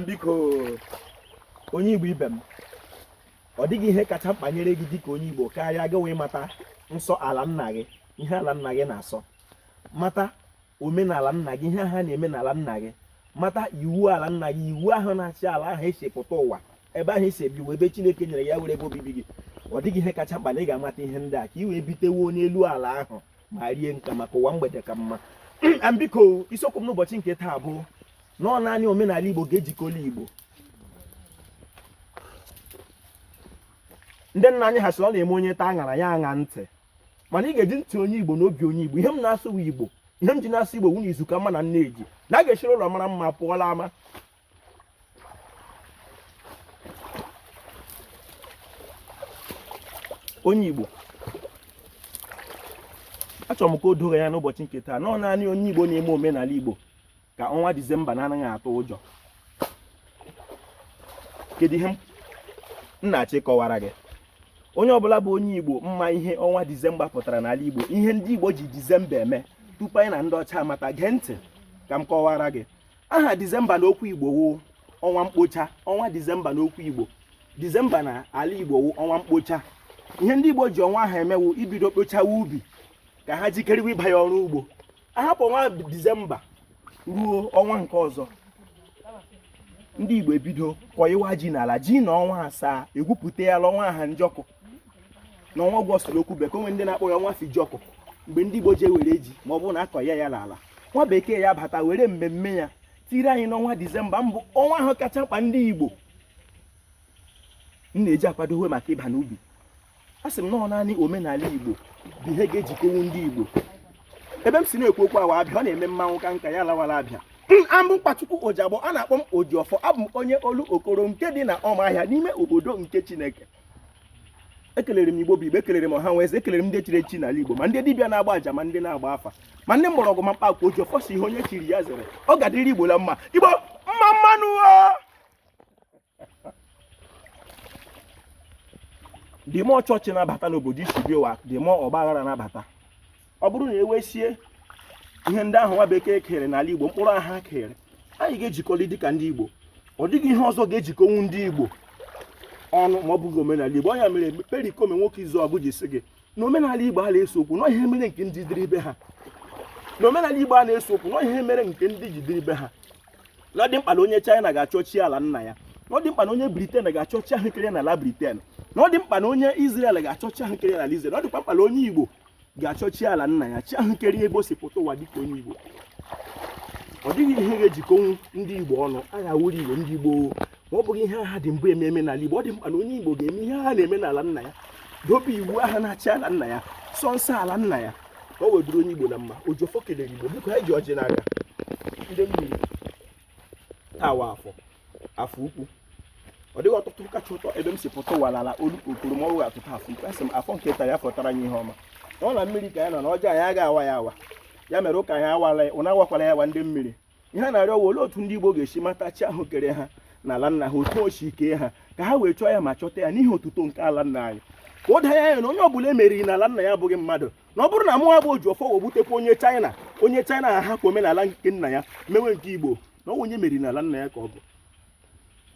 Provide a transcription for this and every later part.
biko onye igbo ibe m ọ dịghị ihe kacha mkpa nyere gị dịka onye igbo karịa gị wee mata nsọ ala nna gị ihe ala nna gị na-asọ mata omenala nna gị ihe ha na-eme n'ala nna gị mata iwu ala nna gị iwu ahụ na-achị ala ahụ esi pụta ụwa ebe ahụ esi ebi ebe chineke nyere ya were ebe obibi gị ọ dịghị ihe kacha mkpa na ị ga-amata ihe ndị a ka ị wee bitewo n'elu ala ahụ ma rie nka maka ụwa mgbede ka mma biko isiokwu m n'ụbọchị nke taa bụ na ọ naanị omenala Igbo ga-ejikọla Igbo ndị nna anyị ha sị ọ na-eme onye taa aṅara ya aṅa ntị mana ị ga-eji ntị onye Igbo na obi onye Igbo ihe m na-asụ Igbo ihe m ji na-asụ Igbo wụ na izu ka mma na nne ji na a ga-esiri ụlọ mara mma pụọ l'ama onye Igbo achọrọ m ka o doo gị anya n'ụbọchị nke taa na ọ naanị onye Igbo na-eme omenala Igbo ka ọnwa Disemba na-anaghị atụ ụjọ kedu ihe m na-achọ ịkọwara gị onye ọbụla bụ onye Igbo ma ihe ọnwa Disemba pụtara n'ala Igbo ihe ndị Igbo ji Disemba eme tupu anyị na ndị ọcha amata gee ntị ka m kọwara gị aha dizemba na okwu igbo wụ ọnwa mkpocha ọnwa dizemba na okwu igbo dizemba na ala igbo wụ ọnwa mkpocha ihe ndị igbo ji ọnwa ahụ eme wụ ibido kpochawa ubi ka ha jikerewe ịbanye ọrụ ugbo a hapụ ọnwa dizemba ruo ọnwa nke ọzọ ndị igbo ebido kọịwa ji n'ala ji nọọ ọnwa asaa egwupụta ya ọnwa aha njọkụ n'ọnwa ọgọst na okwu bekee o nwe ndị na-akpọ ya ọnwa fijiọkụ mgbe ndị igbo ji ewere ji ma ọ bụrụ na a kọọ ya n'ala nwa bekee ya bata were mmemme ya tiri anyị n'ọnwa disemba bụ ọnwa ahụ kacha mkpa ndị igbo na-eji akwadowe maka ịba n'ubi asị m na ọ naanị omenala igbo bụ ihe ga-ejikọnwu ndị igbo ebe m si na-ekwu okwu a wụ abịa ọ na-eme mmanwụ ka nka ya lawara abịa aha m bụ nkwachukwu ojiagbọ a na-akpọ m ojiọfọ abụ m onye olokoro nke dị na ọmaahịa n'ime obodo nke chineke ekelere m igbo bụ igbo ekelere m ọha nwe eze ekelere m ndị chiri echi n'ala igbo ma ndị dibịa na-agba aja ma ndị na-agba afa ma ndị mgbọrọgwụ ma mkpa akwụkwọ ojiọfọ sị ihe onye chiri ya zere ọ ga-adịrị igbo la mma igbo mma mma nụ dịmọ chọọchị na-abata n'obodo isi biowa dịmọ ọgbaghara na-abata ọ bụrụ na e wesịa ihe ndị ahụ nwa bekee kere n'ala igbo mkpụrụ a ha kere anyị ga-ejikọli dịka ndị igbo ọ dịghị ihe ọzọ ga-ejikọnwu ndị igbo ọnụ ma ọ bụghị omenala igbo ọ ya mere perikoma nwoke izuọgụ ji sị gị na omenala igbo a na-ese okwu na ọ ihe mere nke ndị dịrị ibe ha na omenala igbo a na-ese okwu na ọ ihe mere nke ndị ji dịrị ibe ha na ọ dị mkpa na onye china ga-achọ chi ala nna ya na ọ dị mkpa na onye britain ga-achọ chi ahụ e kere n'ala britain na ọ dị mkpa na onye israel ga-achọ chi ahụ e kere n'ala israel na ọ dịkwa mkpa na onye igbo ga-achọ chi ala nna ya chi ahụ kere ebe o si pụta ụwa dịka onye Igbo ọ dịghị ihe ga-ejikọnwu ndị Igbo ọnụ aha wụrụ Igbo ndị Igbo ma ọ bụghị ihe aha dị mbụ ememe n'ala Igbo ọ dị mkpa na onye Igbo ga-eme ihe ha na-eme n'ala nna ya dobe iwu aha na-achị ala nna ya sọ nsọ ala nna ya ka o wee bụrụ onye Igbo na mma Ojiọfọ kelere Igbo biko anyị ji ọjị n'aka ndị mmiri taa wụ Afọ Afọ ukwu ọ dịghị ụtụtụ kacha ụtọ ebe m si pụta ụwa n'ala Ọlụ Okporo ma ọ wụghị ụtụtụ Afọ ukwu asị m Afọ nke taa ya fọtara anyị ihe ọma na ọ na mmiri ka ya nọ na ọjọọ anyị agaghị awa ya awa ya mere ụka anyị awala ya ụnụ awakwala ya awa ndị mmiri ihe a na-arịọ wụ olee otu ndị Igbo ga-esi mata chi ahụ kere ha na ala nna ha otu o si kee ha ka ha wee chọọ ya ma chọta ya n'ihi otuto nke ala nna anyị ka o doo ya anya na onye ọ bụla e meriri n'ala nna ya abụghị mmadụ na ọ bụrụ na mụnwa bụ Ojiọfọ wee gbutekwa onye China onye China ahapụ omenala nke nna ya mewe nke Igbo na ọ onye e meriri n'ala nna ya ka ọ bụ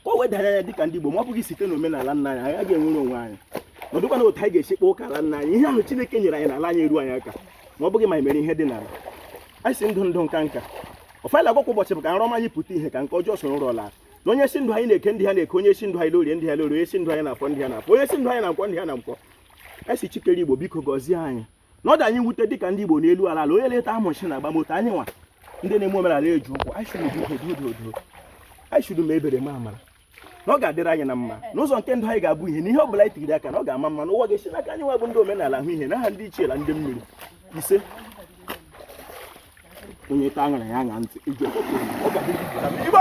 ka o wee doo anya dịka ndị Igbo ma ọ bụghị site n'omenala nna anyị anyị agaghị enwere onwe anyị na ọ dịghịkwanụ otu anyị ga-esi kpọọ ụka ala nna anyị ihe ahụ Chineke nyere anyị n'ala anyị eru anyị aka ma ọ bụghị ma anyị mere ihe dị n'ala anyị sị ndụ ndụ nka nka ọfọ a na-agọ kwa ụbọchị bụ ka nrọ ọma anyị pụta ìhè ka nke ọjọọ soro ụra laa na onye sị ndụ anyị n'Eke ndụ ha n'Eke onye sị ndụ anyị l'Orie ndụ ha l'Orie onye sị ndụ anyị n'Afọ ndụ ha n'Afọ onye sị ndụ anyị na Nkwọ ndụ ha na Nkwọ a sị Chi kere Igbo biko gọzie anyị na ọ dị anyị wute dịka ndị Igbo n'elu ala ala onye leta amụchi na agbamoto anyịnwa ndị na-eme omenala eji ụkwụ anyị sịrị biko doo doo anyị sịrị mee ebere mee amara na ọ ga-adịrị anyị na mma na ụzọ nke ndụ anyị ga-abụ ìhè na ihe ọ bụla anyị tigiri aka na ọ ga-ama mma na ụwa ga-esi n'aka anyịnwa bụ ndị omenala ahụ ìhè n'aha ndị ichie na ndị mmiri ise onye ta aṅara ya aṅa ntị iji ọkpọkọ ọ ga-adị Igbo